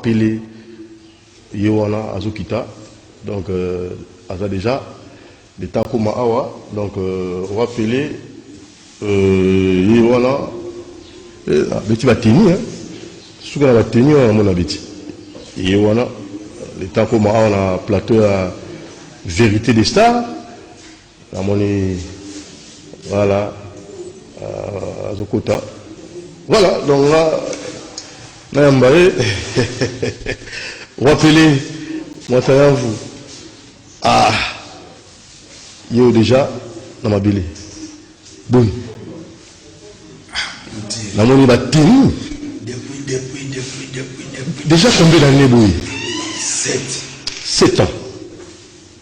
Pele ye wana azo kita donc euh, aza deja le temps akoma awa donc euh, roi Pele euh, ye wana eh, ah, beti bateni hein? suka na bateni wana namona beti ye wana le temps akoma awa na plateau ya vérité des stars Namoni voilà euh, azokota voilà donc nga nayamba ye wapele mwata ya vu ah yo deja na mabele boni namoni batini déjà combien d'année boye 7 ans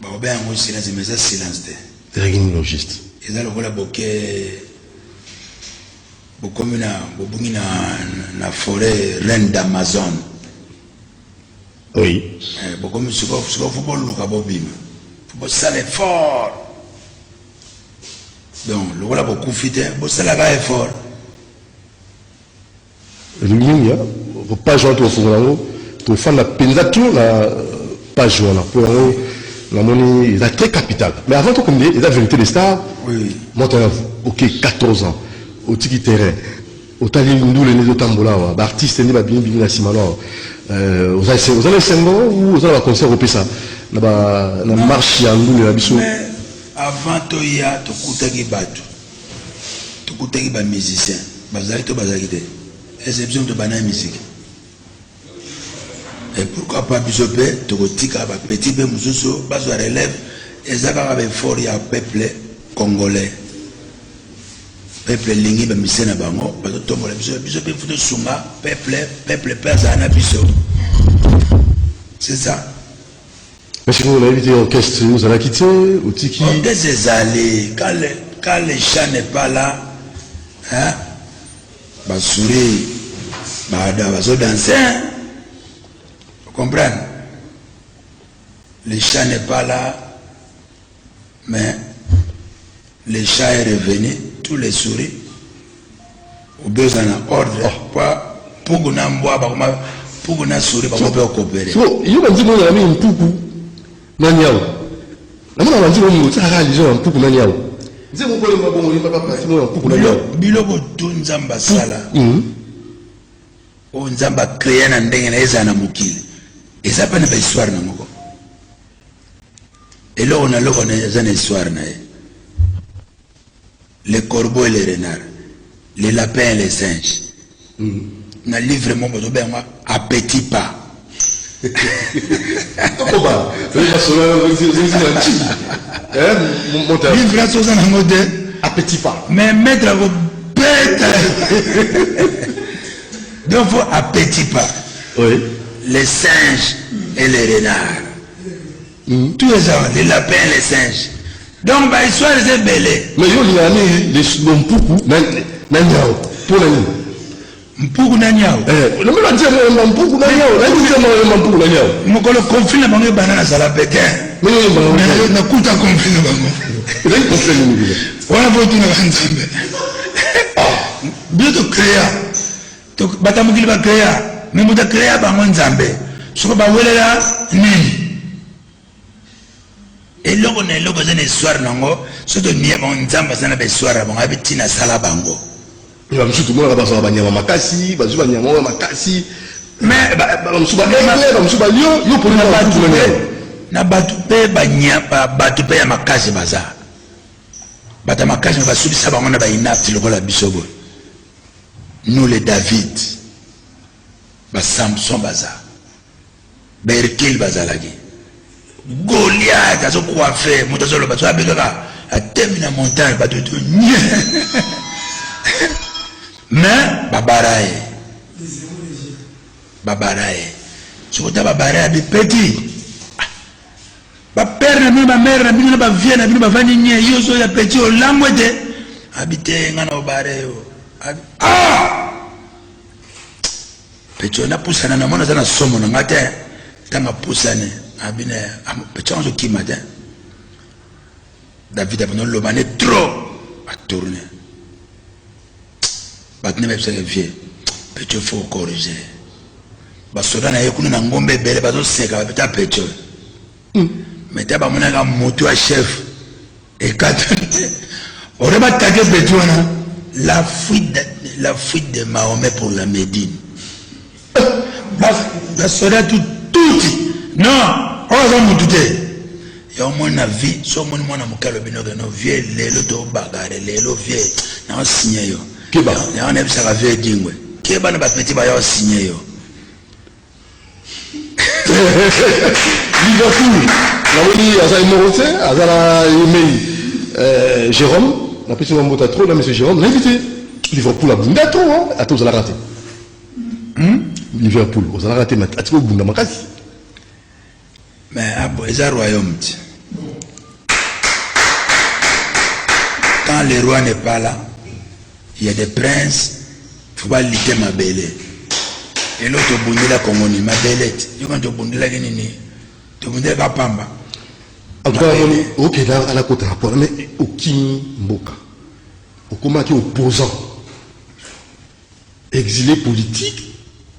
Bako benga ngo silence mais eza silence te. Ezalaki nini au juste? Eza lokola boke bokomi na bobungi na na forêt reine d'Amazon. Oui. Eh, bokomi sikoyo sikoyo fo boluka bobima fo bosala effort donc lokola bokufi te bosalaka effort Elingi mingi hein po page wana tokofungola yango tofanda penza tout na page wana po yango namoni eza très capital mais avant tokomide eza verité de star moto wana ok 14 ans otiki terrain otali ndule nde ezotambola awa baartiste nde babimi bimi na nsima no awa oza na esengo ou oza na baconcert opesa na marche ya ndule na biso avant toya tokutaki bato Tokutaki ba musiciens bazalaki to bazalaki te ese biso moto bana ya miziki e pourquoi pas biso mpe tokotika ba petit mpe mosusu bazwa relève eza kaka baeffort ya peuple congolais peuple elingi bamise na bango bazotombola biso biso mpe mfu tosunga peuple peuple mpe azala na biso c'est ça Merci beaucoup, nayebi te orchestre ozalaki te otiki. Orchestre ezali quand le chat n'est pas là, hein? Basuri baada bazo danser, vous comprenez? Le chat n'est pas là. Mais le chat est revenu, tous les souris. Obeza na ordre kwa puku na mbwa bakoma puku na souris bakoma pe okopere. So yo ba nzimbo na mimi mpuku na nyao. Na mona ba nzimbo mimi tsaka lizo na mpuku na nyao. Nzimbo ko lemba bongo lemba papa simo na mpuku na nyao. Biloko to nzamba sala. Mhm. O nzamba créer na ndenge na eza na mokili. Eza pe na ba histoire na moko. eloko na eloko na eza na histoire na ye le corbeau et le renard le lapin et le singe mm. na livre moko bozobenga appetit pas okoba basola livre aso oza nango te appetit pas mais maître akobeta donc faut appetit pas oui. les singes et les renards Mm. Tout eza les lapins les singes. Donc ba histoire eza ebele. Mais yo lingana nini les mpuku na na nyao mpo na nini? Mpuku na nyao. Eh, lobi ba tia mo mpuku na nyao, na nini tia mo mpuku na nyao? Mokolo conflit na bango ebana na sala bete. Mais yo bango. Mais na kuta conflit na bango. Ezali conflit nini bila? Wana bo tuna ba nzambe. Ah, bio to créer Donc bata mokili ba créa mais moto créa bango nzambe soko bawelela nini eloko na eloko eza na histoire nango so tomiye bango nzambe aza na bahistoire ya bango ayebi ntina asala bango bamosusu tomonaka bazwaka banyama makasi bazwi banyama oyo makasi bamosusu baegle bamosusu balio yo na bato mpe bato mpe ya makasi baza bato ya makasi basukisa bango na bainafti lokola biso boye Nous les David, ba Samson baza, ba Hercule bazalaki, Goliath azo coiffe, moto azo loba, azo abekaka, atemi na montagne, bato to nye. Mais babara ye, babara ye, soki ota babara ya bipeti ba père na bino ba mère na bino na ba vieux na bino bavandi nye yo ozo ya petit olamwe te abite nga na obare yo ah petit ona pusana na mona zana somo na ngate tanga pusane abine petit ozo kima te David abino loba ne trop a tourner. Batne ba bisa vieux. Pecho faut corriger. Ba soda na ye kuna na ngombe bele bazo seka ba peta pecho. Mm. Mais ta ba mona ka moto ya chef. Et quand on va attaquer pecho na la fuite de, la fuite de Mahomet pour la Médine. basoda tututi no oyo aza mutu te ya omoni na vie so omoni mwana moke alobi nokeno vie lelo tobagare lelo vie naosigne yo yango nayebisaka vie edingwe keba na bapeti baya osigne yo liverpool namoni aza ye moko te aza na yemei eh, jérôme napesi mwa mbota trop na monsieur jérôme nayebi te liverpool abunda trop ata ozalaka te Hum Liverpool ozalaka te mais atika obunda makasi mais abo ah, eza royaume ti quand le roi n'est pas là il y a des princes faut ba lite mabele lelo tobundela kongo ni mabele ti yo quand tobundelaki nini tobundelaka pamba en tout cas namoni okenda ala kota rapport mais okimi mboka okomaki opposant Exile politique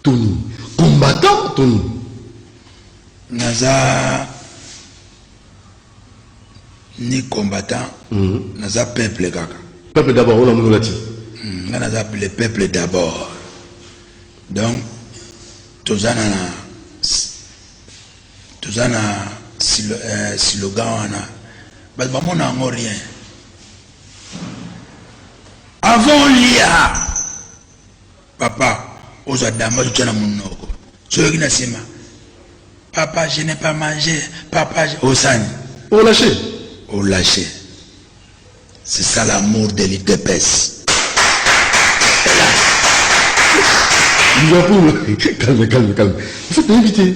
to nini? Combattant to nini? Naza ni combattant, mm. naza peuple kaka. Peuple d'abord, on a mon lati. Mm, nga naza le peuple d'abord. Donc toza na toza na euh, slogan wana bato bamona yango rien Avant olia papa ozwa damba totya na monoko soyoki na nsima papa je n'ai pas mangé papa osani olache olache c'est ça l'amour de l'idepes Calme, calme, calme. Il faut éviter.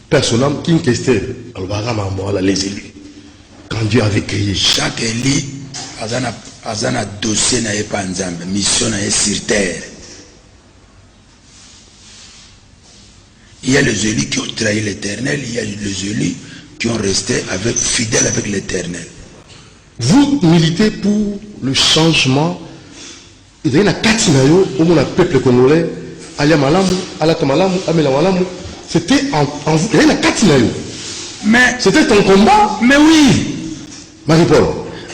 Personam King Kester alobaka makambo wana les élus quand Dieu avait créé chaque élu aza na aza na dossier na ye pa Nzambe mission na ye sur terre il y a les élus qui ont trahi l'éternel il y a les élus qui ont resté avec fidèle avec l'éternel vous militez pour le changement Ezali na kati na yo omona peuple congolais alia malamu, alata malamu, amela malamu, c'etait en en vous, ezali na kati na yo. Mais C'etait ton combat, mais oui Marie Paul.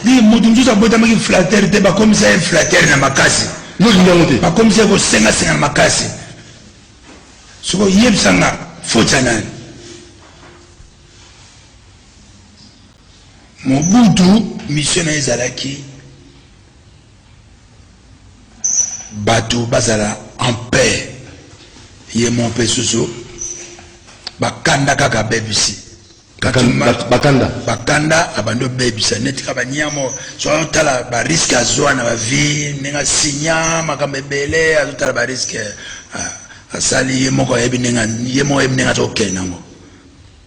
Di mutu mosusu abotamaki flatteur te bakomisa ye flatteur na makasi Yo olingi yango te. bakomisa ye kosenga senga na makasi soko yebisa nga faute ya nani mobutu mission na ye ezalaki Bato bazala en paix. Ye mon pe soso bakanda kaka bebisi bakanda bakanda abandi obebisa neti kaka baniamo so azotala bariske azwa na bavie ndenge asinya makambo ebele azotala bariske ah, asali ye moko ayebi ndenge ye moko ayebi ndenge azokende yango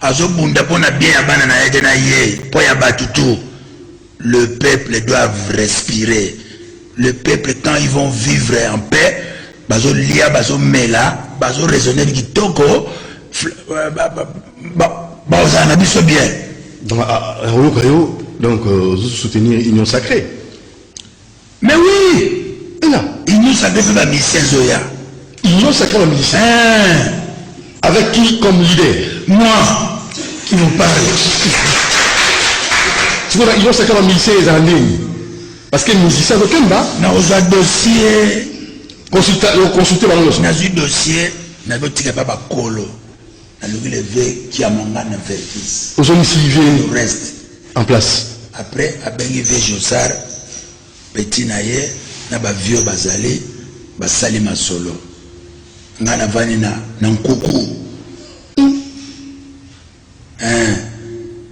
Azo bunda pona bien ya bana naye te na ye po ya batu tout le peuple doivent respirer le peuple quand ils vont vivre en paix bazo lia bazo mela bazo raisonner kitoko euh, baozala na biso bien donc ayoka ah, ah, yo donc euh, soutenir union sacrée Mais oui ena innosa nde pe ba musicien ezoya innosa kaka ba musicien eh. avec qui comme leader moi qui vous parle sikoyo innosa kaka ba musicien ezala ndeni parce que musicien azokemba na ozwa dossier consulte bango nyonso nazwi dossier nazotika pa bakolo Nalobi le ve Kiamangana Verkis. Ozongisi ve reste en place. Après abengi ve Josar petit na ye na ba vieux bazali basali masolo. Nga navandi na na nkuku. Hein.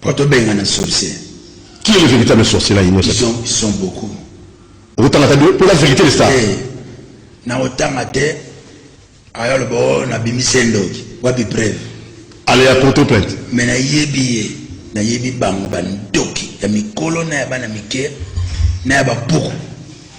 Pourquoi toi benga na sorcier Qui est le véritable sorcier là innocent Ils sont, ils sont beaucoup. Otanga ta pour la vérité de ça. Eh, na otanga te aya le bo na bimise ndoki. Wapi preuve Allez à porter plainte. Mais na yebi ye na yebi bango ba ndoki ya mikolo na ya bana mike na ya ba buku.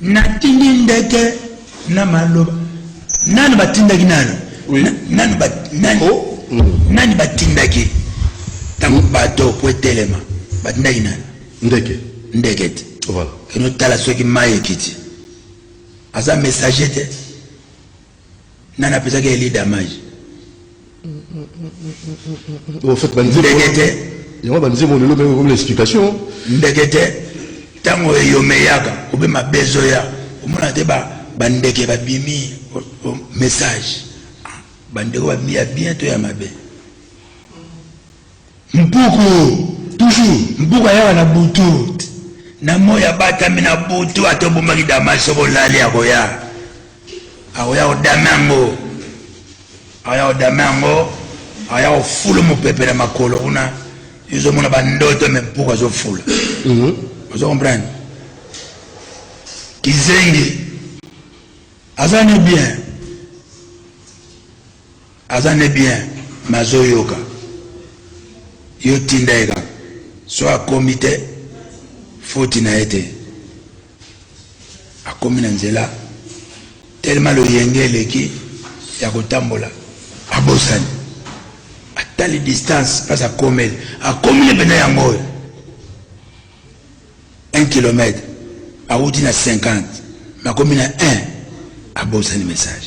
Natindi ndeke na maloba. Nani batindaki nani? Oui. Na, nani ba, nani, oh. mm. nani batindaki ntango mm. bato po etelema batindaki nani? Ndeke. Ndeke te. Voilà. Kino tala soki mai ekiti. Aza messager te. nani apesaki eli damage ndenge te yango banzembo lelo mpe okomi na explication ndenge te ntango eyomeyaka obe mabe ezoya omona te bandeke babimi message bandeko babimi ya bien to ya mabe Mpuku toujours mpuku ayaka na butu na moi abatami na butu ata obomaki dama soki olali akoya akoya kodame yango akoya kodame yango akoya kofulu mopepe na makolo kuna ezomona bandoto me mpuku azofula mhm. ozo comprendre kizengi aza ni bien Aza nde bien mais azo yoka yo tinda ye kaka soki akomi te foti na ye te akomi na nzela telema loyenge eleki ya kotambola abosani atali distance mpasi akomeli akomi ne mpena yango oyo 1 kilomètre awuti na 50 makomi na 1 abosani message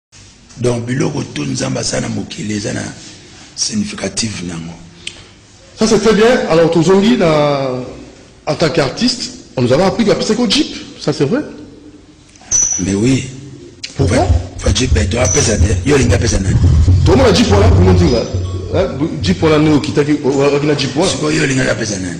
Donc biloko tout nzambe asala na mokili eza na significative nango. Ça c'est très bien. Alors tozongi na en tant qu'artiste, on nous avait appris que apesaki jeep, ça c'est vrai? Mais oui. Pourquoi? Fa jeep eto apesa te. Yo linga pesa nani? Tomona jeep wana pour nous dire. Jeep wana ndio kitaki wakina jeep wana. Siko yo linga pesa nani?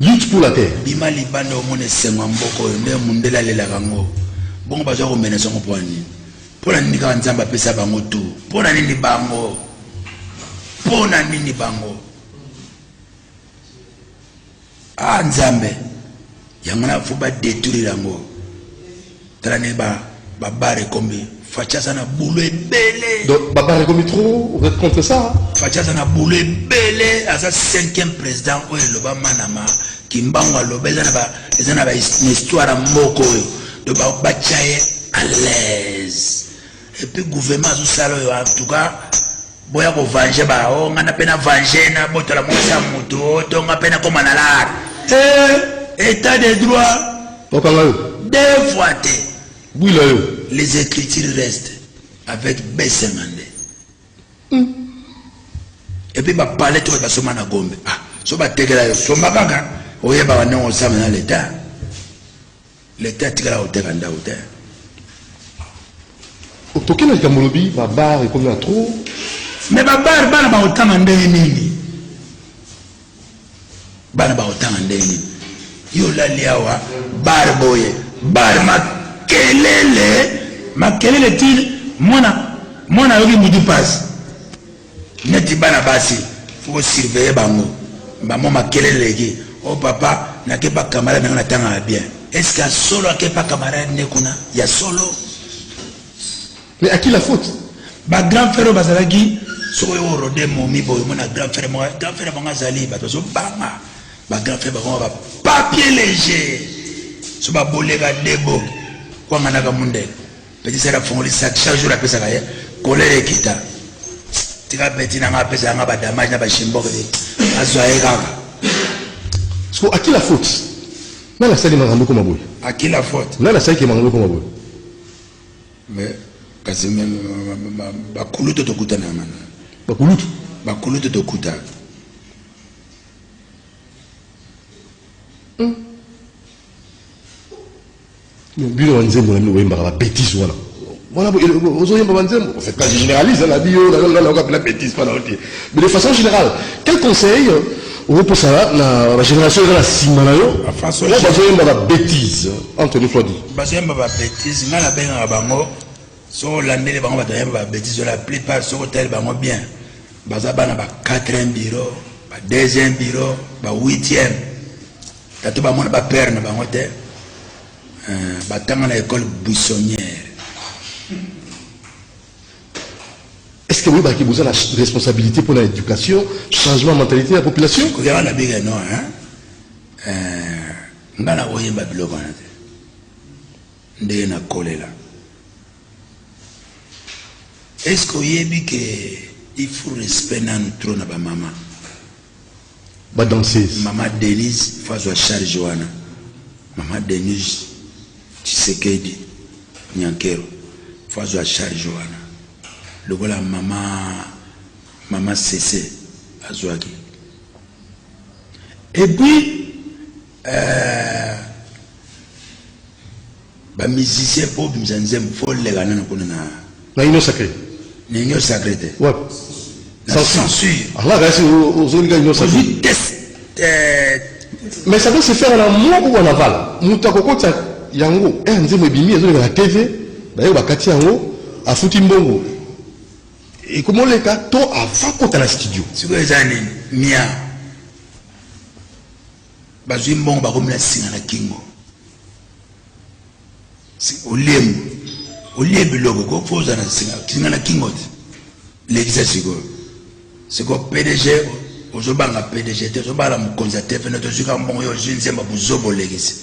Lutte pour la terre. Bima libanda omona esengo ya mboka oyo nde mundele alelaka yango bongo baza komenesa yango mpo na nini mpo na nini kaka nzambe apesa bango tu mpo na nini bango mpo na nini bango a ah, nzambe yango na fo badetruire yango Tala ne ba ba bar ekombi Fatshi aza na boulot ebele. Donc ba bar ekombi trop, vous êtes contre ça? Fatshi aza na boulot ebele, aza cinquième président oyo eloba Manama, Kimbangu aloba eza na ba eza na ba histoire moko oyo. Donc ba ba tchaye à l'aise. et puis gouvernement azo sala yo en tout cas boya ko venger ba o oh, nga na pe na venger na botola mwasi ya moto oh, to nga pe na koma na lar eh état de droit okanga yo deux fois te bwila yo les écritures restent avec besemande mm. et puis ba palais to ba soma na gombe ah so ba tekela yo soma kaka oyeba wana osama na l'état L'etat atikala koteka ndako te. Otoke na likambo olobi ba bar ekomi na trop. Mais ba bar bana bakotanga ndenge nini? Bana bakotanga ndenge nini? Yo olali awa bar boye bar makelele makelele ti mwana mwana ayoki mutu pasi neti bana basi faut surveiller bango mbamo makelele eleki o oh, papa nakepa camarade nanga natangaka bien eske ya solo akepa camarade nde kuna ya solo mais à qui la faute bagrand frère oyo bazalaki soki oyo orode momi boye omona grand frère moko grand frère bango azali bato bazobanga bagrand frère bango bapapier léger so baboleka debo kwanganaka mundele Petit sœur afongoli sac chaque jour apesaka ye colère ekita tika petit na nga apesa yanga ba damage na ba shimboke te azwa ye kaka so akila faute nani asali makambo ekoma boye akila faute nani asalaki makambo ekoma boye mais kasi bakulutu tokutana mana bakulutu bakulutu tokutana hmm. Bino ba nzembo na bino boyembaka ba betises wana wana ozoyemba ba nzembo en fait je généralise na bio na na na na betises pas na oti mais de façon générale quel conseil okopesa na ba génération eza na nsima na yo oyo bazoyemba ba betises entre nous soit dit bazoyemba ba betises ngai nabengaka bango soki olandeli bango bato bayemba ba betises oyo la plupart soki otali bango bien baza bana ba 4 bureau ba 2 bureau ba 8 Tatu ba mona ba père na bango te euh, ba tanga na école buissonnière est-ce que oyebaki boza la responsabilité pour l'éducation changement ya mentalité ya population koyaka na bika no hein euh, nga na koyemba biloko wana te ndenge nakolela est-ce que oyebi ke il faut respect nanu trop na bamama ba danseuse. Maman Denise faut azwa charge wana. Maman Denise Tshisekedi Nyankero faut azwa charge wana. Lokola mama mama Sese azwaki. Et puis Euh, ba musicien po bimisa nzembo fo lela nana kuna na na union sacré na union sacré te wapi censure ala kasi ozolinga union sacré euh, mais ça doit se faire na moi ou en aval moto akokotisa yango eh, nzembo ebimi ezoleka na tv baye bakati yango afuti mbongo ekomoleka to ava kota na studio sikoyo eza nini mia bazwi mbongo bakomi na singa na kingo oliemu olie biloko ko mpo ozala na singa singa na kingo te lekisa sikoyo sikoyo pdg ozobanga pdg te ozobala mokonzi ya tv nete ozwi kaka mbongo yo ozwi nzemba bozoba olekisi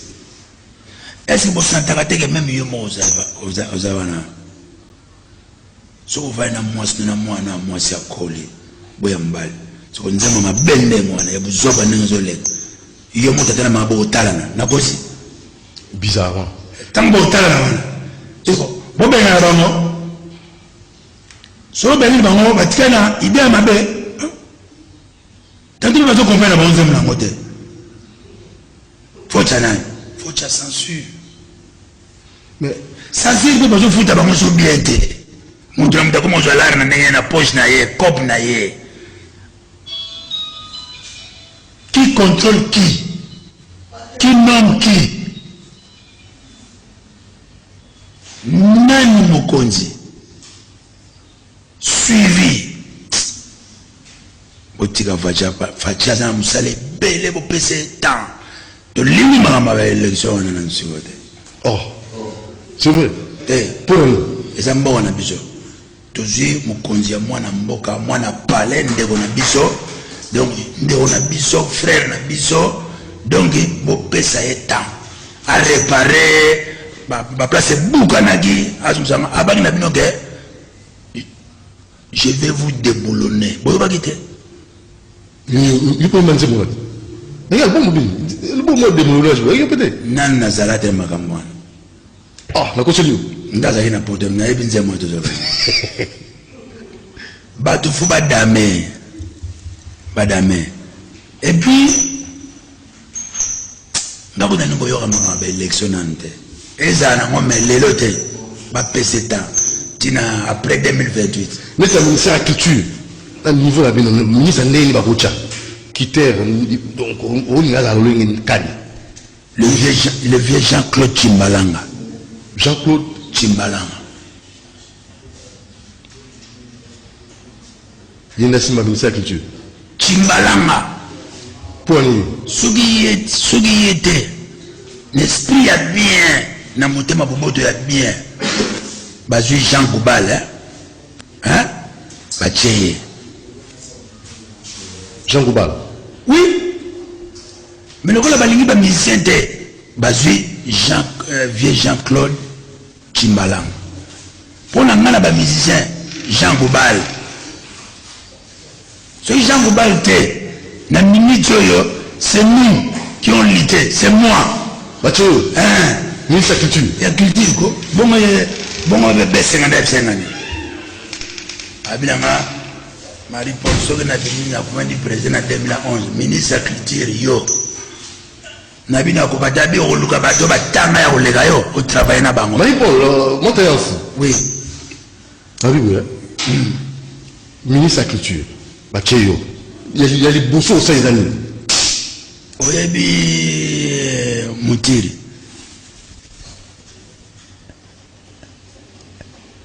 ese bosantaka teke meme yo moko ozala wana Soki ovandi na mwasi na na mwana mwasi akoli boya mobali soko nzambe mabe ndenge wana ya buzoba ndenge ezoleka yo moto ata na mabo otalana nakosi bizarrement ntango botalana wana eko bobengana bango soko obengani bango batika na ide ya mabe Tantine bazo comprendre ba nzembo nango te. Faut tchanani. Faut tcha censure. Mais censure pe bazo futa bango so bien te. Mutu na mutu akoma ozwa lar na ndenge na poche na ye, cop na ye. Qui contrôle qui? Qui nomme qui? Nani mokonzi? suivi botika facha facha aza na mosala ebele bopesa ye temps tolingi makambo ya election wana na nsiko te oh c'est vrai te mpo na nini eza mboka na biso tozwi mokonzi ya mwana mboka mwana palais ndeko na biso donc ndeko na biso frère na biso donc bopesa ye temps a repare ba place ebukanaki azongisama abaki na bino ke je vais vous déboulonner boyokaki te yopema nzembo wana ndenge album bini album ya démoulage boyaki yo pete nani nazala te makambo wana ah nakoseli yo nde azalaki na poto nayebi nzembo wana tozala bato fo badame badame epuis ndako nani koyoka mama ba election nanu te ezala nango me lelo te bapese temps tina après 2028 neti ya ministère ya culture na niveau na bino ministre ndenge bakotya kiter donc olinga azala lolenge kani le vieux jean claude chimbalanga jean claude chimbalanga Linda Simba abimisa culture. Kimbalanga. Mpo nini? Soki ye soki ye te na esprit ya bien na motema boboto ya bien bazwi Jean Goubal hein? Hein? Batie ye. Jean Goubal. Oui. Mais lokola balingi ba musicien te bazwi Jean euh, vieux Jean-Claude Tshimbalangu pona nga na ba musiciens Jean Goubal soki Jean Goubal te na minute oyo c'est nous qui ont lutté c'est moi batu oyo hein ministre ya culture ya culture ko bongo bongo be besenga nda bisengani abinanga Marie Paul soki na bimi na kumandi president na 2011 ministre ya culture yo na bino ya koka dabi okoluka bato batanga ya koleka yo otravaille na bango mayi paul euh, moto ya ofu oui abi boya hmm. ministre ya culture batye yo ya liboso osali eza nini oyebi euh, motiri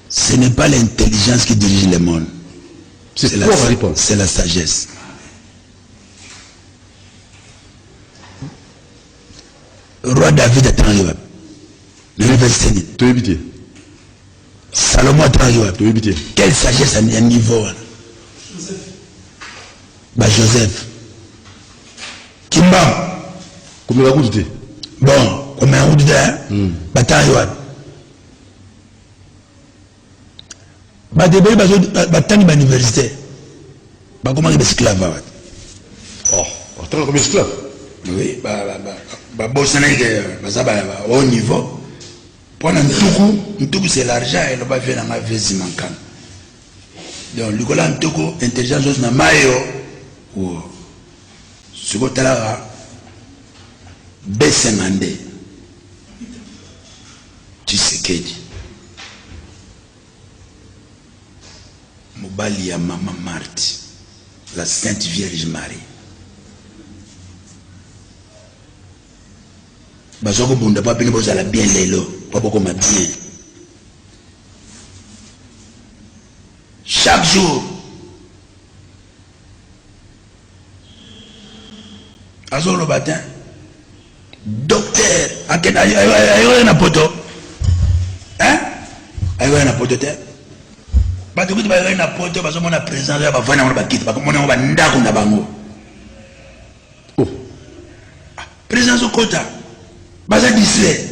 ce n'est pas l'intelligence qui dirige le monde c'est la, la sagesse roi david atangi wapi na université nini toyebi te salomon atangi wapi toyebi te quelle sagesse ya niveau wana ba joseph kimbangu komela kutu te bon komela kutu te hmm. batangi wapi bato ebele batangi ba université bakomaki baesclave awa oh, batanga komi esclave oui babosanaki te baza haut niveau mpo na ntuku ntuku c'est l'argent eloba vie na ngai vesi mankana donc likola ntuku intelligence osi na mayo wo soki otalaka besenga nde Tshisekedi mobali ya mama Marthe la Sainte Vierge Marie bazwa kobunda mpo bino bozala bien lelo mpo bokoma bien chaque jour azoloba te docteur akenda ayoya na poto ayoya na poto te bato kutu bayoya na poto bazomona président ya bavandi yango na bakiti bakomona yango bandako na bango oh. ah, président azokota baza distrait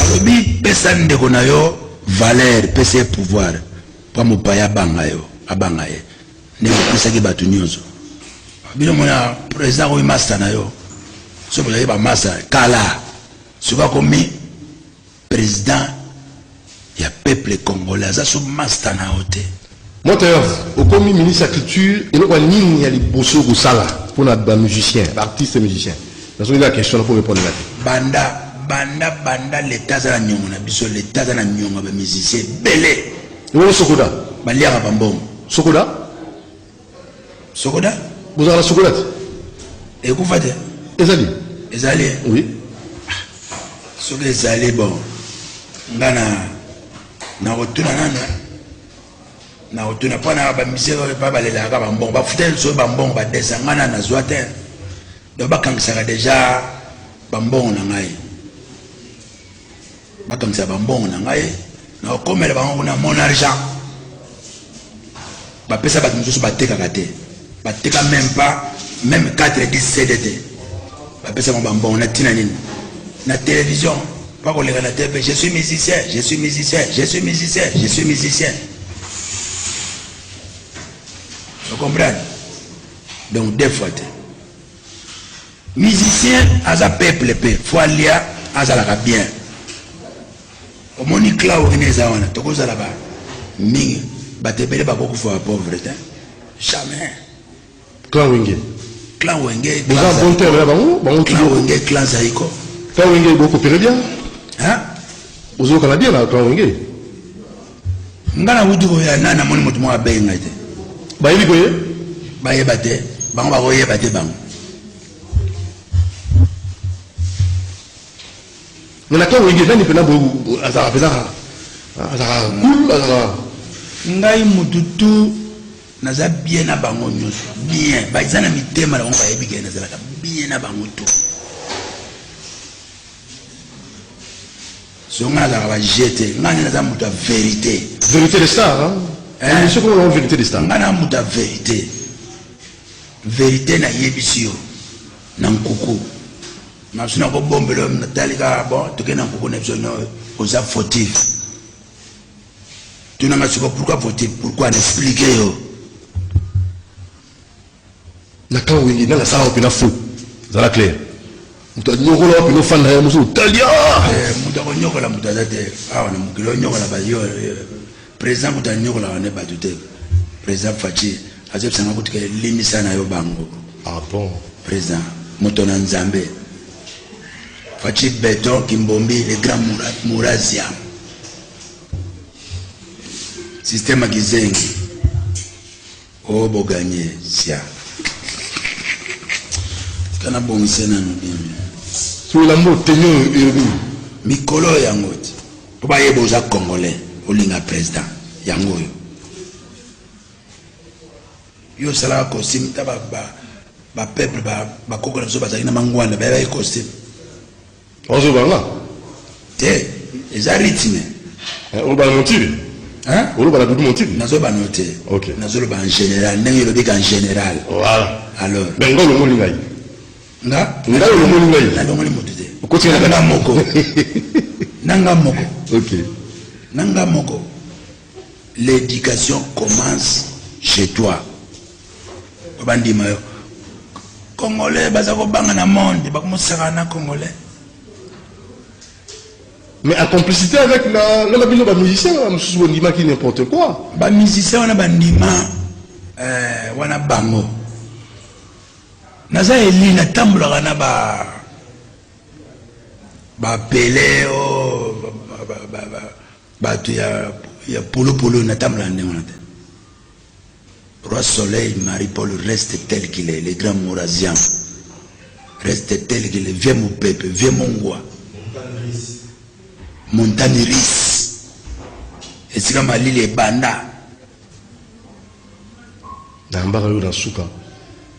Alobi pesa ndeko na yo valeur, pesa ye pouvoir mpo mopaya abanga yo abanga ye ndenge opesaki bato nyonso bino mona président akomi masta na yo soki ozali bamasta kala soki akomi président ya peuple congolais aza so masta na yo te Moteurs, okomi ministre ya culture eloko ya nini ya liboso kosala mpo na bamusicien baartiste musicien nazongi na question mpo repondre na te banda banda banda leta aza na niongo na biso leta aza na niongo ya bamusicien ebele ebongo sokoda baliaka bambongo sokoda Sokoda. Bozala sokoda te. Ekufa te. Ezali. Ezali. Oui. Soki ezali bon. Nga na na kotuna nana na kotuna mpo na bamisere oyo mpa balelaka bambongo bafuta liso oyo bambongo badesa ngai na nazwa te donc bakangisaka deja bambongo na ngai Bakangisa ba mbongo na ngai na okomela bango kuna mon argent. Ba pesa bato mosusu batekaka te. Bateka même pas même 4 10 CD te. Ba pesa bango ba mbongo na tina nini? Na télévision pas qu'on na TV, je suis musicien, je suis musicien, je suis musicien, je suis musicien. Vous comprenez Donc deux fois. Musicien aza peuple pe faut alia azalaka bien omoni clau ene eza wana tokozala ba mingi bato ebele bakokufa ba pauvre te jamais clan wenge clan wenge boza bon terme na bango bango clan wenge clan zaiko clan wenge bokopere bien hein ozokana bien na clan wenge nga na wuti koya na namoni moto moko abeyi ngai te bayebi koye bayeba te bango bakoyeba te bango nalaka wenge nani mpena azalaka mpenza azalaka kul azalaka ngai motu tu naza bien na bango nyonso bien baza na mitema na bango bayebi kee nazalaka bien na bango to Sinon nga nazalaka ba jeux te, nga nde naza mutu ya verite. Verite de star hein? Eh. Emission kolo na verite de star. Nga na mutu ya verite. Verite na yebisi yo na nkuku. Na sina ko bombelo na talika bon toke na nkuku na biso no oza fautif. Tuna nga siko pourquoi fautif? Pourquoi na expliquer yo? na ka wenge na nasala wapi na faux zala clair moto anyokola wapi nofanda ya mosusu talia eh, moto akonyokola moto aza te awa na mokili onyokola bayo eh, président moto anyokolaka nde bato te président faci azobisanga kutuka elimisa na yo bango ah bon président moto na nzambe faci beton kimbombi le grand murasia système ya kizengi Oh bo gagne siaa tika na bongisa nanu bien bien Tolambo tenue oyo elobi nini? mikolo oyo yango ti mpo bayeba oza congolais olinga president yango oyo yo osalaka costume ta bapeuple bakoko na biso bazali na mangwanda bayebaki costume Ozo banga? Te, eza rythme. Eh, oloba na motibi? Hein? Oloba na dudu motibi? Nazo ba note. OK. Nazo loba en général, ndenge olobi ka en général. Voilà. Alors. Mais ngo longo ni ngai. Nga? Nga longo ni ngai. Na longo ni moto te. Okoti na moko. Nanga moko. OK. Nanga moko. L'education commence chez toi. Bandima yo. Congolais baza kobanga na monde, bakomusaka na Congolais. Mais en complicité avec la la bino ba musiciens, ba mususu bondima qui n'importe quoi. Ba musiciens wana bandima euh wana bango. Naza eli na tambolaka na ba ba Pelé oh, ba ba ba, ba, ba Batu ya ya polo polo na tambola ndenge wana te. Roi Soleil Marie Paul reste tel qu'il est, le grand Mourazian reste tel qu'il est, vieux Mopepe, vieux Mongwa, Montagne Ris, esika malili ebanda. Nayambaka yo na suka.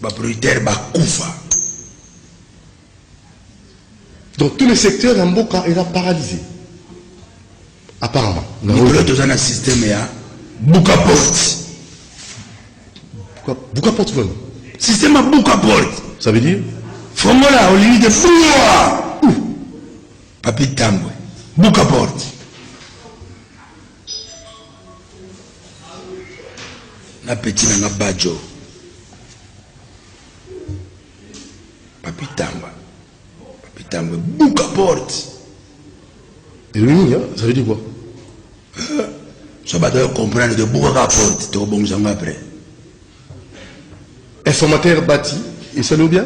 Ba prioritaires ba kufa. Donc tous les secteurs na mboka eza paralysé. Apparemment. Nicolas toza na système ya buka porte. Buka, buka porte vraiment. Système ya buka porte. Ça veut dire Fongola olingi de fungwa. Papi Tambwe. Buka porte. na peti na nga bajo papitamba papitamba buka porte elobi nini ça veut dire quoi euh, so bato ya comprendre ke buka ka porte tokobongisa yango après informateur bati esali obia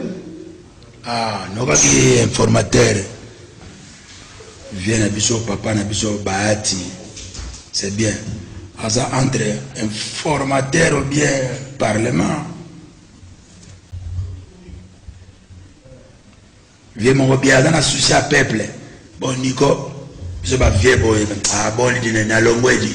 Ah, nokaki informateur vie na biso papa na biso bahati c'est bien aza entre informateur ou bien parlement vie moko bien aza na souci ya peuple bon niko biso bavie boye ah, bolidi nalongwedi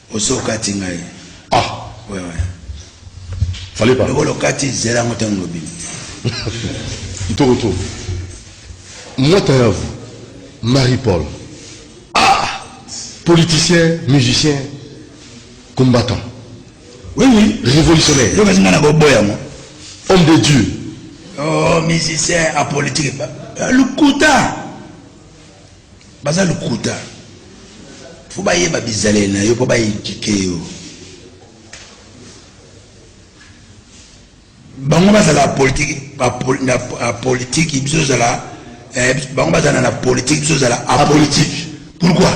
Osi okati ngai. Ah. Ouais, ouais. Fallait pas. Lokola okati zela yango ntango lobi. Ntoko to. Mwata ya vous. Marie-Paul. Ah! Politicien, musicien, combattant. Oui, oui. Révolutionnaire. Yo bazinga na boboya mo. Homme de Dieu. Oh, musicien, apolitique. Lukuta. Baza lukuta. Faut bayeba bizaleli na yo po ba eduquer yo. Bango bazala politique na politique biso zala eh, bango bazala na politique biso zala apolitique. Pourquoi?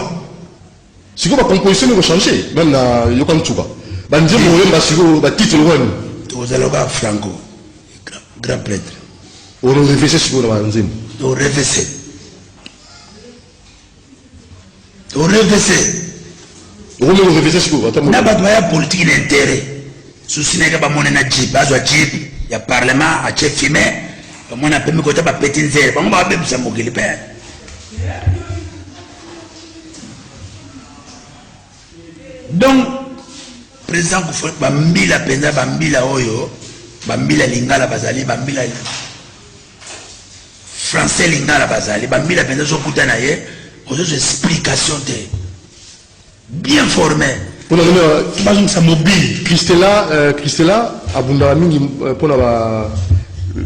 Sikoyo ba composition eko changer meme na yoka nsuka ba nzembo oyemba sikoyo ba titre wani ozaloka franco grand prêtre orevese sikoyo na banzembo orevese orevese okomi korevese sikoyo ata na bato baya politiki na intere susi nayeke bamone na jip azwa jip ya parlement atie fime bamone apemi kota bapeti nzele bango babebisa mokili mpe donc président kufa bambila mpenza bambila oyo bambila lingala bazali bambila français lingala bazali bambila mpenza ozokuta na ye ozozo explication te Bien forme. Pona nini bazongisa mobile? Christella, euh, Christella abundaka mingi euh, pona ba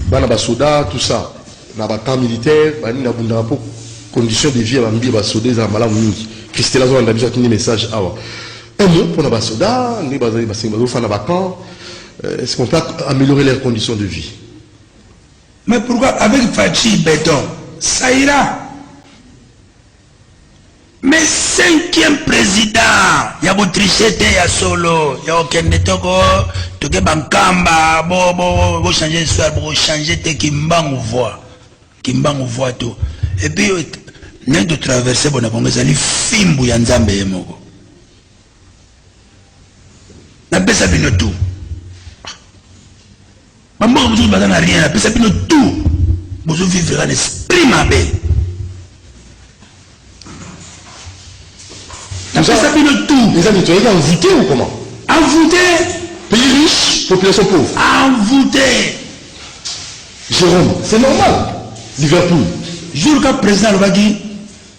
bana ba soda tout ça na ba camp militaire ba nini abundaka po condition de vie ya bambi ba soda eza malamu mingi. Christella azolanda biso atindi message awa. Un mot pona ba soda nde bazali basengi bazofana ba camp. Euh, est-ce qu'on peut améliorer leurs conditions de vie? Mais pourquoi avec Fatshi béton ça ira Mais cinquième president ya bo tricher te ya solo ya okende toko toke bankamba bo bo bo changer histoire bo changer te kimbangu voix kimbangu voix to et puis nani to traverser bona bongo ezali fimbu ya nzambe ye moko napesa bino tu bamboka mosusu baza na rien napesa bino tu bozovivre na esprit mabe napesa bino tu eza nde toyeki envoute ou comment envoute pays riche population pauvre envoute jérôme c'est normal liverpool jour ka président alobaki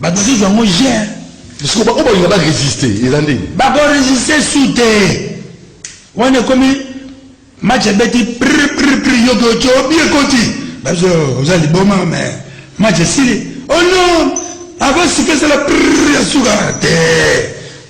Ba dosage yango je hein. Parce que oyo balinga ba résister eza nde. Ba ko résister su te. Wana ekomi match ebeti prr prr prr yo ko cho bi ekoti. Ba zo oza liboma mais match esili. Oh non! Avant suka esala prr ya suka te.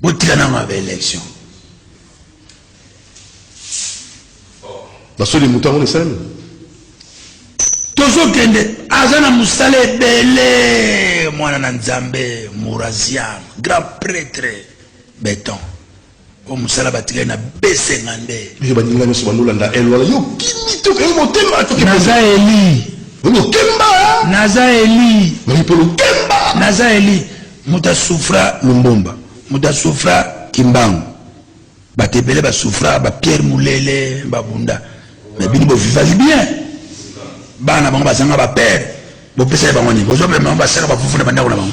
Botika na ma election. Basoli moto yango esalemi. Tozokende aza na mosala ebele mwana na Nzambe Murazian grand prêtre beton o mosala batikali na besenga nde biso baninga nyonso bandolanda el wana yo kimi toke yo motema toke naza eli yo mokemba naza eli mokolo kemba naza eli Moto a souffra Lumbumba, moto a souffra Kimbangu, bato ebele ba souffra, ba Pierre Mulele ba bunda, mais bino bo vivaki bien, bana bango bazanga ba père, bopesaki bango nini? Bozomema bango basala bafufu na bandako na bango.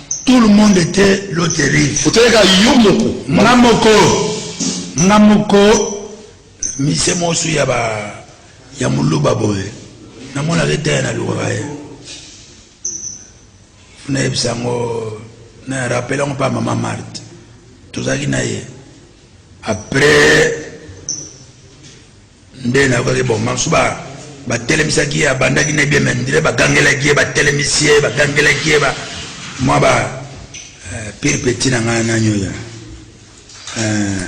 Tout le monde était loterie. Oteleka yo moko. Nga moko. Nga moko. Mise mosu ya ba ya muluba boye. Na mona ke taya na luka ye. Na yebisa ngo na rappela ngo pa mama Marthe. Tozaki na ye. Après Nde nayokaki bongo. Basusu ba batelemisaki ye abandaki na bien mais dire bagangelaki ye batelemisi ye bagangelaki ye ba mwa ba euh, pire petit na ngai nani oyo euh,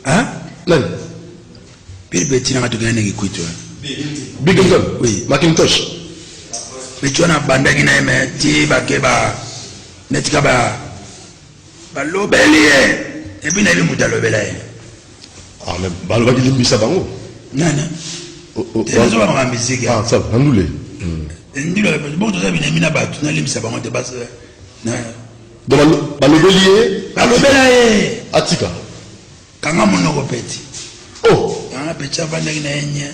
hein nani pire petit na ngai tokenda na kikuitu big oui macintosh mitu wana abandaki na ye me ti bake ba neti ka ba balobeli ye epuis nayebi moto alobela ye Ah, mais balobaki limbisa bango. Nana. Oh, oh, Tena zoba maka miziki. Ah, ça, nandule. Hmm. Ndilo, bon, toza binemi na batu, na limbisa bango te bas. Na. Donc balobeli ye. Balobela ye. Atika. Kanga monoko peti. Oh. Kanga peti avandaki na yenye.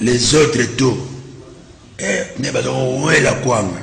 Les autres tout. Eh, ne bazoko wela kwanga.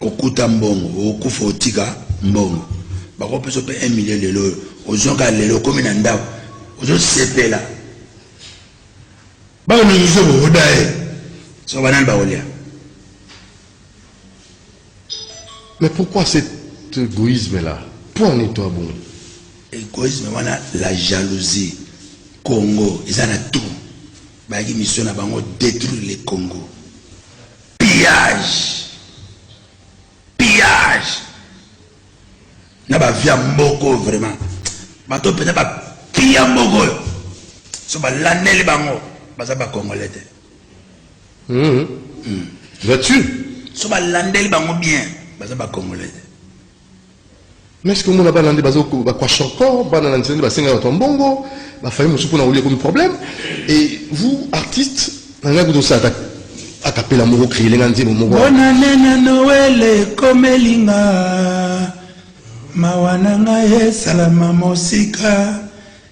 Okuta mbongo okokufa otika mbongo bakopesa yo mpe 1 million lelo oyo ozwa kaka lelo okomi na ndako ozosepela bakoningisa boboda ye soko banani bakolia mais pourquoi cet égoïsme là mpo nini to abongo égoïsme wana la jalousie congo eza na tout bayaki mission na bango détruire le congo pillage pillage na ba via mboko vraiment bato pena ba pia mboko yo so ba laneli bango baza ba congolais te mhm mm. là-dessus so ba landeli bango bien baza ba congolais te Mais ce que mona bana nde bazo ba kwa shoko bana na nzende basenga bato mbongo ba fayi musu pona olie comme problème et vous artistes na ngai kuto sa akapela moko créer lenga nzembo moko bona nena noele komelinga mawa na ngai esalama mosika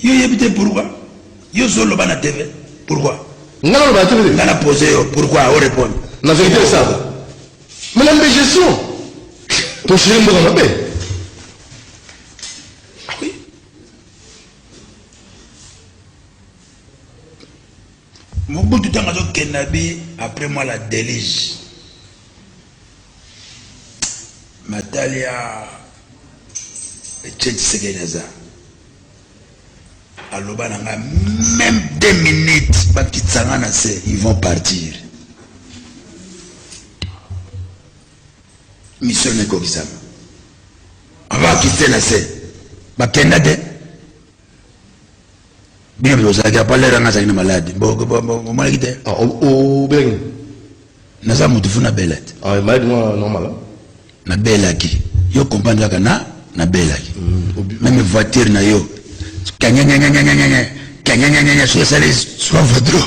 Yo yebi te pourquoi? Yo zo loba na TV pourquoi? Nga na loba na TV te. Nga na poser yo pourquoi o répondre? Na vérité ça. Mais la gestion. To chéri mboka mabe. Ah oui. Mobutu tango azo kende abi après moi la delige matalia etienne tshisekedi aza aloba na ngai même deux minutes bakitisa ngai na se ils vont partir mission ekokisama abakitise na se bakenda te bible ozalaki apalera nga azalaki na maladi omonaki te ah, obelaki naza motu fu nabelaki ah, maladi mwa normal nabelaki yo comprendre kaka na nabelaki mm, meme voiture na yo kanyanyanyanyanyanya kanyanyanyanya soki esali soif dro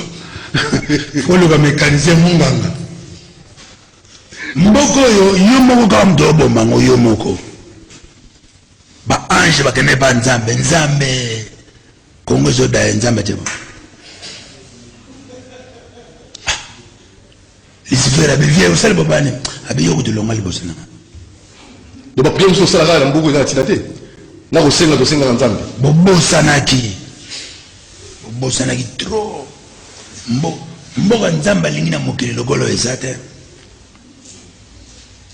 oluka mécanicien monganga mboko oyo yo moko kaka moto oboma ngo yo moko Ba ange ba kende ba nzambe nzambe Congo ezo da nzambe te. Ah. Lucifer abi vie osali bobani abi yoko tulonga liboso na. Donc ba prière so sala kala mbuku eza tina te. Na ko senga to senga na nzambe. Bobosanaki. Bobosanaki trop. Mbo mboka nzambe alingi na mokili lokolo eza te.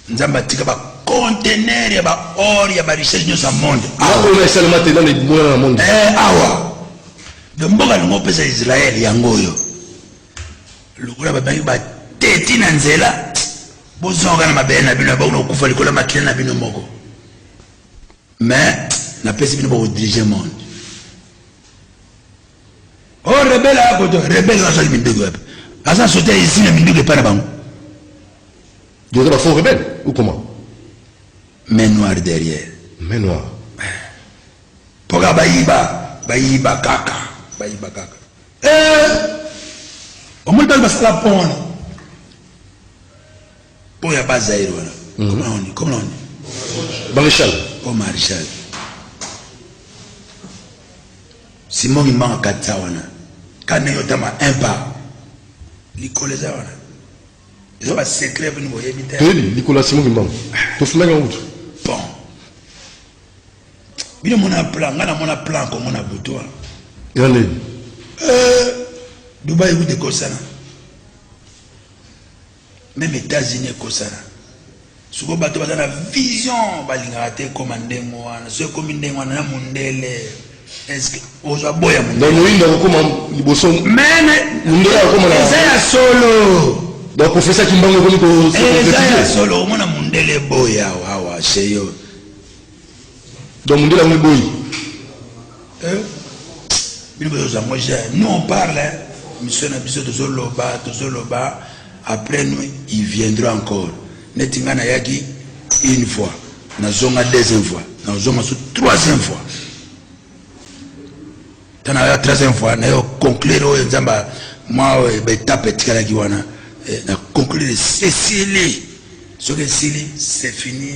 nzambe atika ba conteneur ya ba or ya ba richesse nyonso ya monde akoyo esalema te nano ebonana na monde eh, awa do mboka lingo opesa israel yango oyo lokola babangi bateti na nzela bozonga na mabele na bino bakona kokufa likolo ya makila na bino moko mais napesi bino bakodirige monde Oh rebelle a koto rebelle wa zali minduki wapi? Aza sote ya izina minduki epai na bango. Doza ba faux rebelle ou comment? Main noir derrière. Main noir. Poka bayiba, bayiba kaka, bayiba kaka. Eh! Omoni bali basala pont wana. Pont ya bas Zaire wana. Mhm. Comment on dit? Comment on dit? Maréchal. Pont Maréchal. Simon kimanga katisa wana ka ndenge otama un pas likolo eza wana eza ba secret bino boyebi te toyebi likolo ya Simon kimanga tofundaki yango kutu bon bino mona plan nga namona plan kongo na butu wana ya nini euh, dubai kutu ekosana Meme Etats-Unis ekosana. Siko bato baza na vision balingaka te ekoma ndenge wana. So ekomi ndenge wana na mundele. Est-ce que ozwa boya mundele? Donc moyindo akokoma liboso. Meme mundele akokoma na. Eza ya solo. Donc professeur Kimbangu ekomi ko. Eza ya solo omona mundele boya wawa chez yo. Donc mundele yango eboyi. Eh? Bino bozoza ngo je. Nous on parle, hein? Mission na biso tozoloba, tozoloba. Après nous, il viendra encore. Neti nga nayaki une fois, nazonga deuxième fois, nazonga sur troisième fois. Tana ya troisième fois, nayo conclure oyo nzamba mwa oyo betape etikalaki wana eh, na conclure esili soki esili c'est fini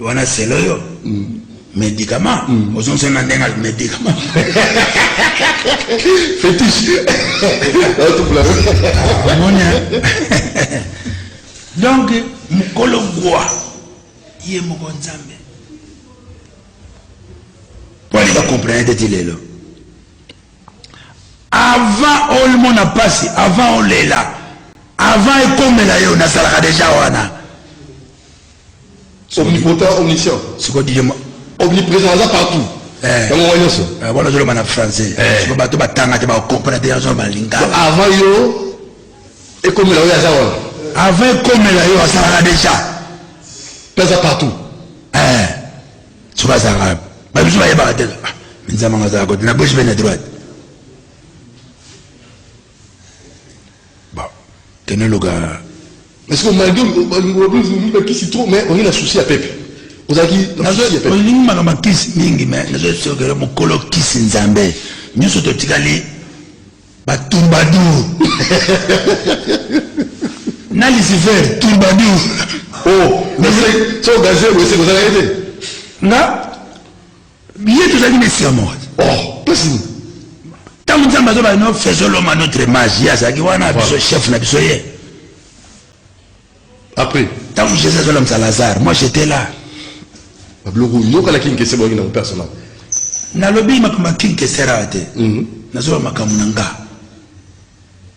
wana selo yo médicament ozongisa na ndenge ali médicament fétiche omoni donc mokolo gwa ye moko nzambe mpo alinga comprene te ti lelo avant olimona mpasi avant olela avant ekomela yo nasalaka deja wana omnipotent omniscient sikoyo didier ma omnipresent aza partout eh. yango wana nyonso eh, wana ozoloba na français eh. sikoyo bato batanga te bakompona te yango balingana avant yo ekomela oyo aza wana avant ekomela yo azalaka déjà mpe aza partout sikoyo azalaka babiso bayebaka te ah, nzamanga azalaka kote na gauche mpe na droite Ba tene loga parce que malgré olingi bakisi trop mais olingi na souci ya pepe ozalaki olingi maka makisi mingi mais nazosokele mokolo kisi nzambe nyonso totikali batumbadour na lucifer tumbadour o oh, so gaze boyesekozalaki te nga Ye tozalaki na esika moko te. Oh, pasi nini? Ntango Nzambe azobala no faisons l'homme à notre image, ye azalaki wana biso chef na biso ye. Après, ntango Jésus azolamisa Lazare, moi j'étais là. Babiloko yokalaki nkese boyaki nango personnel. Nalobi makambo ya kinkesera te. Mhm. Nazoba makambo na nga.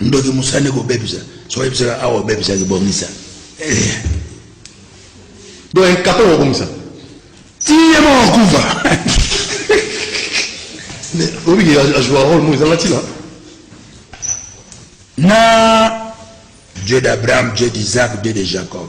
ndoki mosani kobebisa soki ebisaka awa obebisaki bomisa eh. donc incapable kobomisa tiye moko kufa obiki ajoua role mo ezanga ntina na dieu d'abraham dieu d'isaac dieu de jacob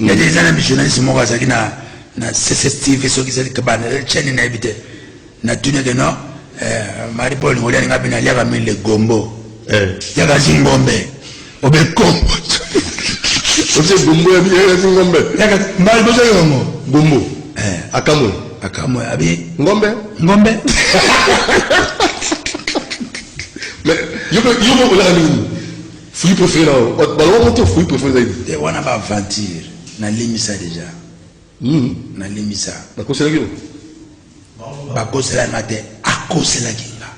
Nga deja na journaliste moko azalaki na na CCTV soki ezali kabana eh, chaîne na yebi te na tuni ke non eh, Marie Paul ngoli alinga bina liaka mille le gombo eh. yaka zingombe obe kombo obe gombo ya bina yaka zingombe yaka mbali bozo yongo gombo akamwe akamwe abi ngombe ngombe mais yoko yoko olaka nini Fruit prefere na yo baloba ngo te fruit prefere ezali nini? Eh wana ba aventure na limbisa deja. Hmm. Na limbisa. Bakoselaki yo? Bakoselaki nga te akoselaki nga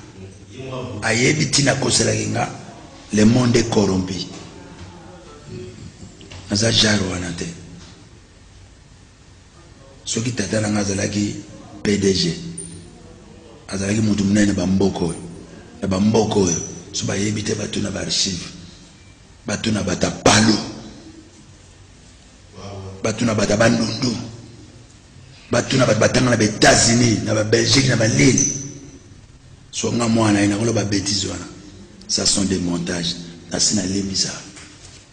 ayebi ntina akoselaki nga le monde est corrompu naza jare wana te Soki tata na nga azalaki pdg azalaki mutu munene ba mboka oyo na ba mboka oyo so bayebi te batuna ba archive batuna bata palu batuna bata bandundu batuna bato batanga na ba Etats-Unis na ba Belgique na ba nini so nga mwana ye nakoloba betise wana ça sont des montages nasi nalimbisa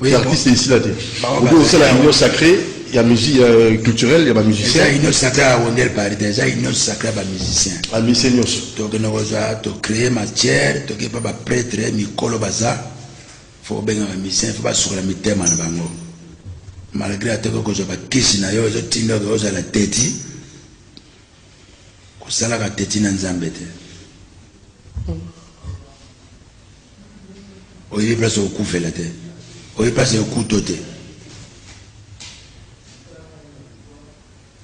Oui, artiste ici là. Vous pouvez aussi la union sacrée, il y a musique euh, culturelle, il y a ba musiciens. C'est union sacrée à Wonder Paris, déjà union sacrée à ba musiciens. À musiciens nous. Donc nous avons to créer matière, to pas ba prêtre, mikolo baza. Faut bien ba musiciens, faut pas sur la mitema na bango. Malgré atoko ko zo ba kisi na yo, zo tinda ko za la tête. Ko sala ka tête na Nzambe te. Mm. Oyebi place okufela te. Oyebi place ya okuto te.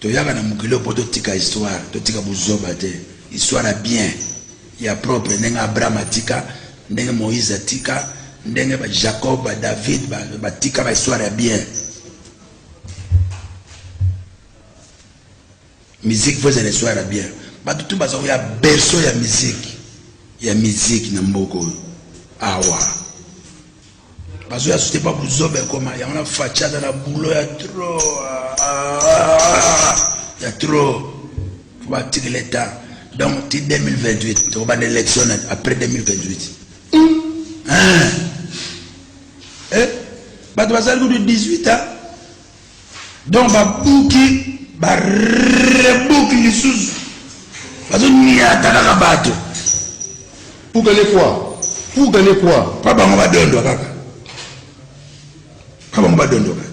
Toyaka na mokili mpo totika histoire, totika buzoba te. Histoire ya bien, ya propre, ndenge Abraham atika, ndenge Moïse atika, ndenge ba Jacob, ba David batika ba histoire ya bien. Musique faut ezala histoire ya bien. Bato tout baza ya berceau ya musique. Ya musique na mboka oyo. Awa. Bazo ya sute pa buzoba ekoma yango na facha aza na boulot ya trop. Ya trop. Faut batikela etat. Donc ti 2028 tokobanda élection après 2028. Hein? Eh? Bato bazali kutu 18 ans donc babuki barebuki lisusu bazoniata kaka bato pour gagner quoi pour gagner quoi pa bango badondwa kaka pa bango badondwa kaka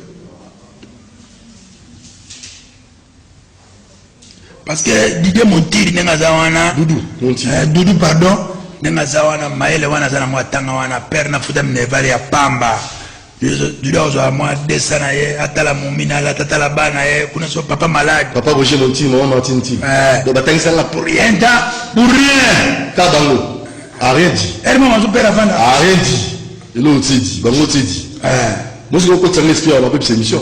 parce que Didier Montiri ndenge aza wana Doudou Montiri euh, Doudou pardon ndenge aza wana mayele wana aza nango atanga wana père na futa minerval ya pamba Doudou azwa mwa desa na ye atala momina alata atala bana ye kuna so papa malade papa Roger Montiri maman Martine Montiri euh. donc batangisa nga pour rien ta pour rien ta bango a rien dit elle m'a mangé père avant a rien dit et l'autre dit bango dit euh. moi je crois que tu as l'esprit à la peuple émission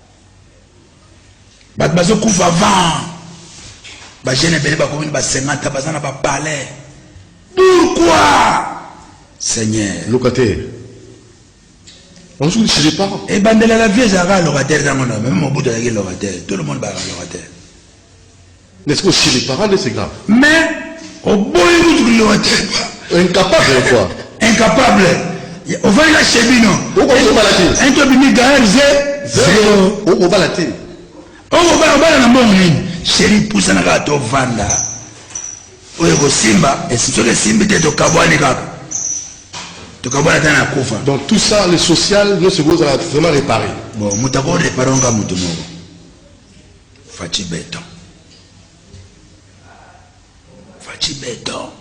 bato bazokufa avant bajeune ebele bakomi na basengata baza na bapalais pourquoi seigneur locataire ozoki chez pas ebandela la vie ezalaka locataire ntango na meme mobutu azalaki locataire tout le monde bazalaka locataire N'est-ce que chez les parents de ces gars Mais, oboyi mutu kilowa teba. Incapable quoi Incapable. Ovali la chez bino. Oko obala te. Ento bimi gaer ze. Zero. Oko obala te. Oko obala obala na mbongo nini? Chéri pusa na kaka to vanda. Oyo kosimba, soki esimbi te tokabwani kaka. Tokabwani ata na kufa. Donc tout ça le social, nous se goza vraiment réparer. Bon, mutako réparer nga mutu moko. Fatshi beton Fatshi beton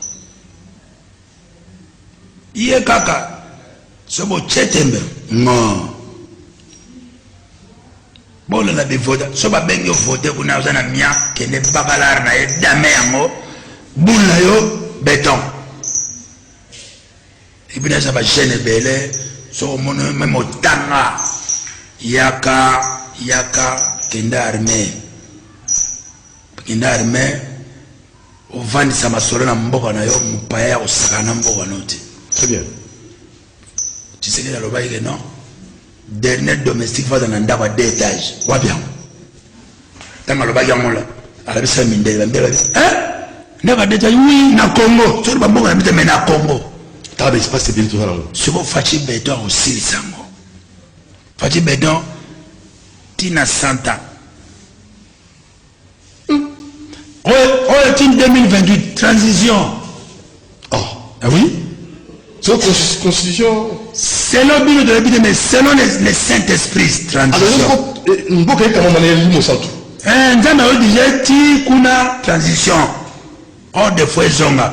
ye kaka sobo chetembe ngo bolo na bivoda so babengi yo vote kuna oza na mia kende bakalare na ye dame yango bula yo beton Ebina eza ba jeune ebele so mono meme otanga yaka yaka kenda armée kenda armée ovandisa masolo na mboka na yo mopaya ya kosakana na mboka na yo te. Très bien. Tshisekedi alobaki ke non Dernier domestique faza na ndako ya deux étages wapi yango ntango alobaki yango la alabisa mindele bambe babi eh? ndako ya deux étages oui na congo soki bamboka na mita mai na congo taka baespace ebele tozala ngo soko faci beton akosilisa yango faci beton tina santa oyo oyo ti 2028 transition oh ah oui so constitution selon bino toyebi te mais selon le saint esprit transition ah, eh, mboka ekamama na elimo santu eh, nzambe ayo deja ti kuna transition or de fois ezonga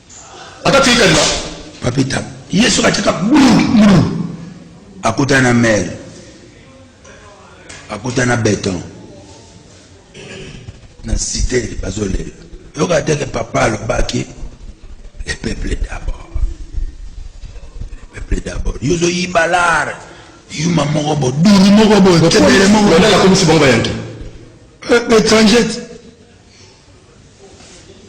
Ata tiki kaliba papita ye soki ateka bulu akutana na mere akutana na beton na cité bazolela yoka teke papa alobaki le peuple d'abord le peuple d'abord yo ozoyiba lare yuma moko bo duni moko boye tebele moko akomisi bango bayanki eh, étranger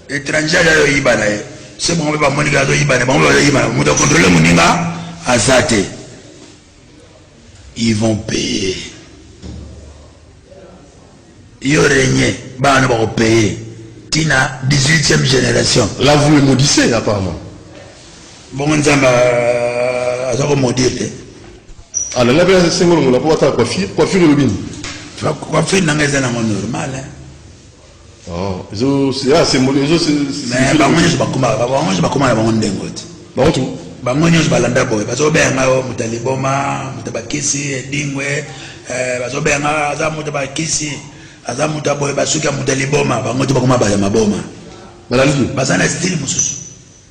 Etranger aya yo yiba na ye. Se bango ba moni ka zo yiba na bango ba yiba na moto contrôler moninga azate. Ils vont payer. Yo régner bana ba ko payer. Tina 18e génération. Là vous le maudissez apparemment. bongo nzambe aza ko modire te alala mpe asengo longola mpo atala coiffure coiffure elobi nini coiffure na ngai eza nango normal oh, bango nyonso bakoma na bango ndengo te bango tu bango nyonso balanda boye bazobeya ngai o oh, moto ya liboma moto ya bakisi edingwe eh, bazobeya ngai aza moto ya bakisi aza moto ya boye basuki ya moto ya liboma bango te bakoma baya maboma baza na stile mosusu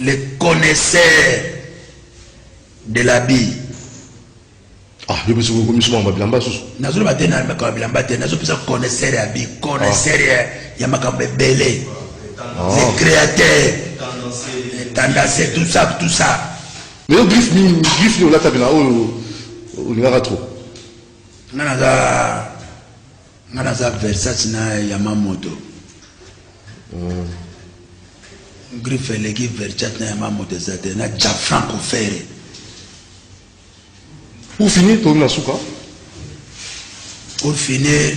Le connaisseur de la bille. Ah, yo biso ko miso mamba bilamba susu. Nazo loba te na makambo bilamba te, nazo pesa connaisseur ya bi, connaisseur ya ya makambo ebele. Ah. Le créateur. Tendance, tout ça, tout ça. Mais yo griffe ni griffe ni olata bina oyo olingaka trop. Nana za Nga naza Versace na Yamamoto. Mm. Griffe eleki Versace na Yamamoto eza te na Gianfranco Ferre. Pour finir tomi na suka. Pour finir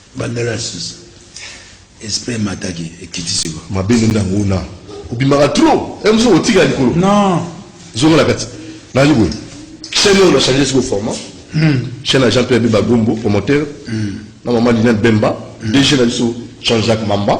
Bandela sisa esprit emataki ekiti siko. Mabe nini na ngona obimaka trop eh, mosusu otika likolo non zonga na kati nayi boye chaîne oyo na changer siko format hmm. chaîne ya Jean Pierre Bemba Gombo promoteur hmm. na maman Liliane Bemba hmm. DG na biso Jean-Jacques Mamba